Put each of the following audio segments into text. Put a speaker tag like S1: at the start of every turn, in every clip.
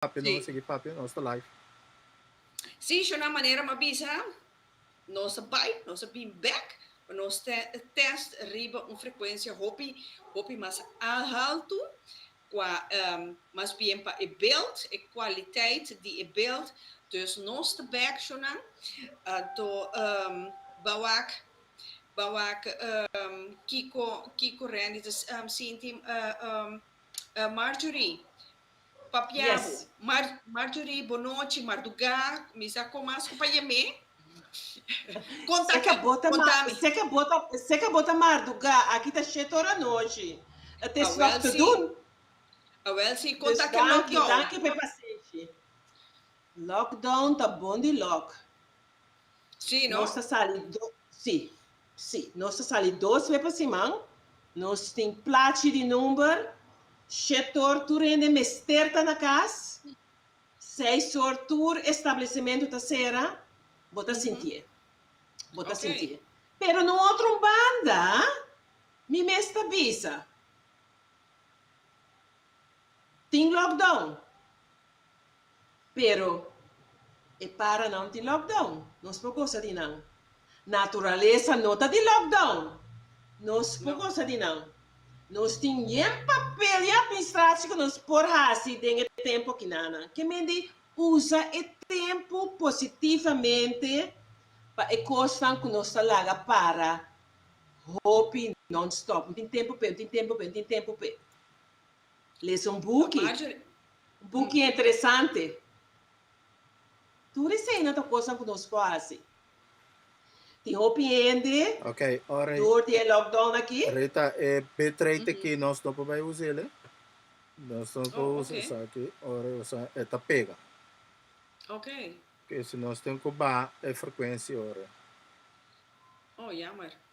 S1: papia nos a sigui papia nos
S2: ta live. Sí, Shona manera m'a bisa nos a bai, nos a bin bek pa nos ta test riba un frecuencia hopi hopi mas alto cua mas bien pa e beeld, e cualiteit di e beeld. Dus nos ta bek Shona anto ba wak ba wak kico kico Randy ta sinti Marjorie. Papiabu.
S3: Mar Marjorie
S2: bonochi marduga kumisa kon mas ku pa yem'é? Kontaki
S3: kontami. Seka bo ta seka bo ta marduga aki ta shete ora nochi it is nog te doen. Awel
S2: si kontaki lockdown. Danki
S3: danki
S2: pa e pasenshi.
S3: Lockdown ta bon di lock.
S2: Si no. Nos ta sali do
S3: si. Sí, nos ta sali dos be pa siman. Nos tin plachi di number. Shetor tur hende mester ta na cas. Seis or tur establecimento ta cera. Bo ta sintié. Bo ta sintié. Pero na un otro banda, mi mes ta bisa, tin lockdown. Pero e para nan tin lockdown, nos por gosa di nan. Naturalesa no ta di lockdown, nos por gosa di nan. Nos tin yen papel di administraci cu nos por haci den e tempo kinanan. Ke men di usa e tempo positivamente pa e cosnan cu nos ta laga para hopi non-stop. N'tin tempo p'e, n'tin tempo p'e, n'tin tempo p'e. Lesa un buki, un buki interesante. Tur eseinan ta kosnan ku nos por hasi. Tin hopi hende dor
S1: di e lockdown
S3: aki. Rita, e
S1: bitrate aki nos no por bai usa el eh. Nos no por usa esaki ora esaki e ta pega.
S2: Ke si nos
S1: tin ku baha e frekuensia ora.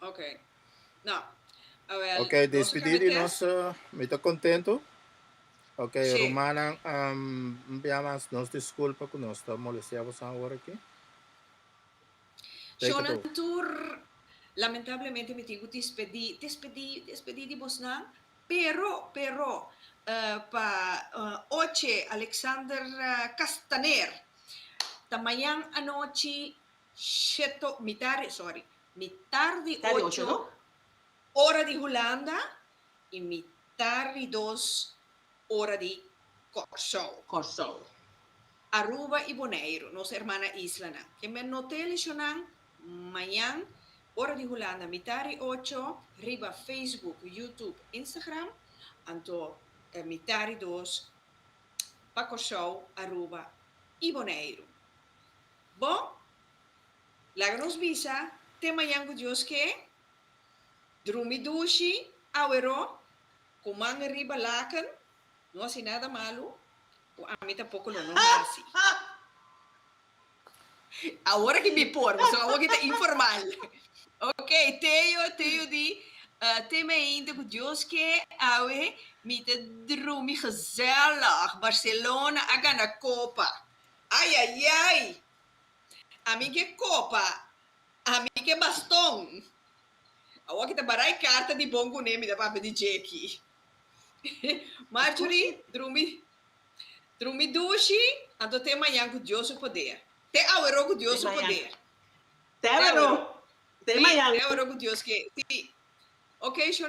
S2: Ok. No. Awel,
S1: ok, despedí di nos. Mi ta kontentu. Ok, sí. rumanan,
S2: um,
S1: biamas nos disculpa ku nos ta molestia bos awor aki.
S2: Shonan tur, lamentablemente mi tin ku despedí, despedí, despedí di bosnan, pero, pero, uh, pa, uh, oche Alexander Castaner, ta mañan anochi, sheto, mitare, sorry, Mi tar di ocho ora di Hulanda y mi tar di dos ora di Corsou. Corsou. Aruba y Boneiro, nos hermana isla nan. Ke me no te lecionnan mañan ora di Hulanda mi tar di ocho riba Facebook, YouTube, Instagram, anto mi tar di dos pa Corsou, Aruba y Boneiro. Bo? Laga nos bisa, Te mañan ku Dios ke? Drumi dushi, aweró, ku man e riba laken, no hasi nada malu, ku ami tampoko lo no hasi. Awor aki mi por, pasobra awor aki ta informal. Ok, Teo, Teo di, Te me einde ku Dios ke? Awe, mi ta drumi gezellig, Barcelona a gana kopa. Ayayay! Ami ke kopa, ami ke baston. Awor ki ta barai karta di bon kuné mi ta papia di Jackie. Marjorie, Drumi drumi dushi, anto te mañan ku Dios su poder. Te awero ku Dios su poder. Te awero. Te mañan. Te awero
S3: ku Dios
S2: ke. Si. Oke,